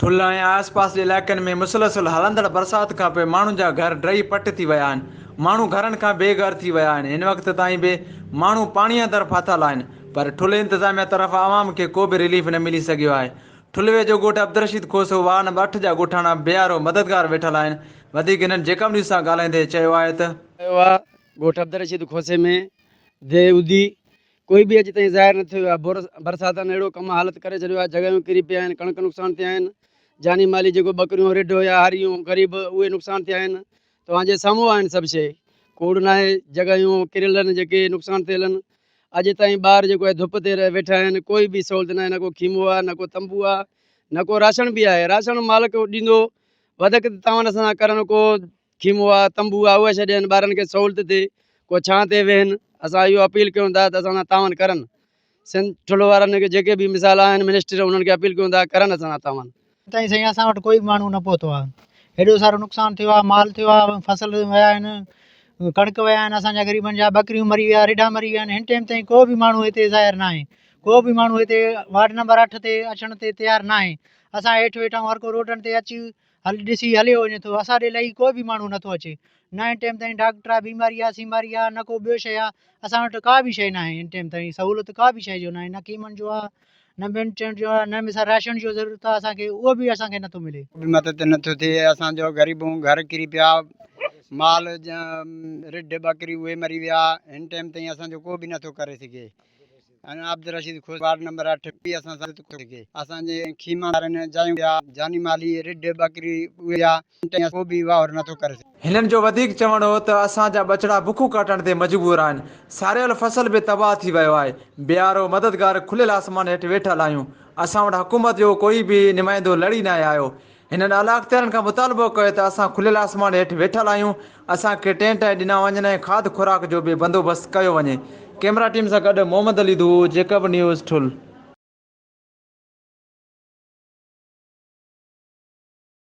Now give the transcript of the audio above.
ٺلهه ۽ آس پاس جي علائقن ۾ مسلسل هلندڙ برسات کانپوء ماڻهن جا گهر ڊهي پٽ ٿي ويا آهن، ماڻهو گهرن کان بي گهر ٿي ويا آهن، هن وقت تائين به ماڻهو پاڻي اندر ڦاٿل آهن، پر ٺلهه انتظاميا طرفان عوام کي ڪو به رليف نه ملي سگهيو آهي، ٺلهه ويجهو ڳوٺ عبدالرشيد کوسو وارڊ نمبر اٺ جا ڳوٺاڻا بي آر او مددگار ويٺل آهن، وڌيڪ هنن جيڪب نيوز سان ڳالهائيندي چيو آهي ته. ڳوٺ عبدالرشيد کوسي ۾ دي اودي ڪوئي به اڄ تائين ظاهر نه ٿيو آهي، برساتن اهڙو ڪم حالت ڪري ڇڏيو آهي، جڳهيون ڪري پيا آهن، ڪڻڪ نقصان ٿيا آهن، جاني مالي جيڪو ٻڪريون، رڍ هيا، هاريون، غريب اهي نقصان ٿيا آهن، توهان جي سامهون آهن سڀ شيء، ڪوڙ ناهي، جڳهيون ڪريل آهن جيڪي نقصان ٿيل آهن، اڄ تائين ٻار جيڪو آهي ڌپ تي رهي ويٺا آهن، ڪوئي به سهولت ناهي، نه ڪو خيمو آهي، نه ڪو تنبو آهي، نه ڪو راشڻ به آهي، راشڻ مالڪ ڏيندو، وڌڪ ته توهان اسان سان ڪرڻ ڪو خيموا، تنبو، آهوء ڇڏين، ٻارن کي سهولت ٿئي، ڪو ڇانء تي ويهن، اسان اهو اپيل ڪيون ٿا ته اسان سان تعاون ڪرن، سنڌ ٺلهو وارن کي جيڪي به مثال آهن منسٽر انهن کي اپيل ڪيون ٿا ڪرن اسان سان تعاون. اڄ تائين سائين اسان وٽ ڪوئي به ماڻهو نه پهتو آهي هيڏو سارو نقصان ٿيو آهي مال ٿيو آهي فصل ويا آهن ڪڻڪ ويا آهن اسان جا غريبن جا ٻڪريون مري ويا رڍا مري ويا آهن هن ٽيم تائين ڪو به ماڻهو هتي ظاهر نه آهي ڪو به ماڻهو هتي وارڊ نمبر اٺ تي اچڻ تي تيار نه آهي اسان هيٺ ويٺا آهيون هر ڪو روڊن تي اچي هل ڏسي هليو وڃي ٿو اسان ڏي لهي ڪو به ماڻهو نٿو اچي نه هن ٽيم تائين ڊاڪٽر آ بيماري آ سيماري آ نه ڪو ٻيو شيء آ اسان وٽ ڪا به شيء ناهي هن ٽيم تائين سهولت ڪا به شيء جو ناهي نه ڪيمن جو آ نه ٻين چيڻ جو آ نه مثال راشن جو ضرورت آ اسان کي اهو به اسان کي نٿو ملي به مدد نٿو ٿئي اسان جو غريبون گهر ڪري پيا مال رڍ ٻڪري اهي مري ويا هن ٽيم تائين اسان جو ڪو به نٿو ڪري سگهي. ۽ عابدرشيد خوش وارڊ نمبر اٺ به اسان سان ڪو سگهي اسان جي خيما وارن جايون يا جاني مالي رڍ ٻڪري اهي يا اونٽ يا ڪو به واهر نٿو ڪري سگهي. هنن جو وڌيڪ چوڻ هو ته اسان جا ٻچڙا بک ڪاٽڻ تي مجبور آهن، ساريل فصل به تباهه ٿي ويو آهي، بيارو مددگار کليل آسمان هيٺ ويٺل آهيون، اسان وٽ حڪومت جو ڪوئي به نمائندو لڙي ناهي آيو، هنن اعليٰاختيارن کان مطالبو ڪيو ته اسان کليل آسمان هيٺ ويٺل آهيون، اسان کي ٽينٽ ۽ ڏنا وڃن ۽ کاڌ خوراڪ جو به بندوبست ڪيو وڃي. ڪيمرا ٽيم سان گڏ محمد علي ڌوء، جيڪب نيوز، ٺل.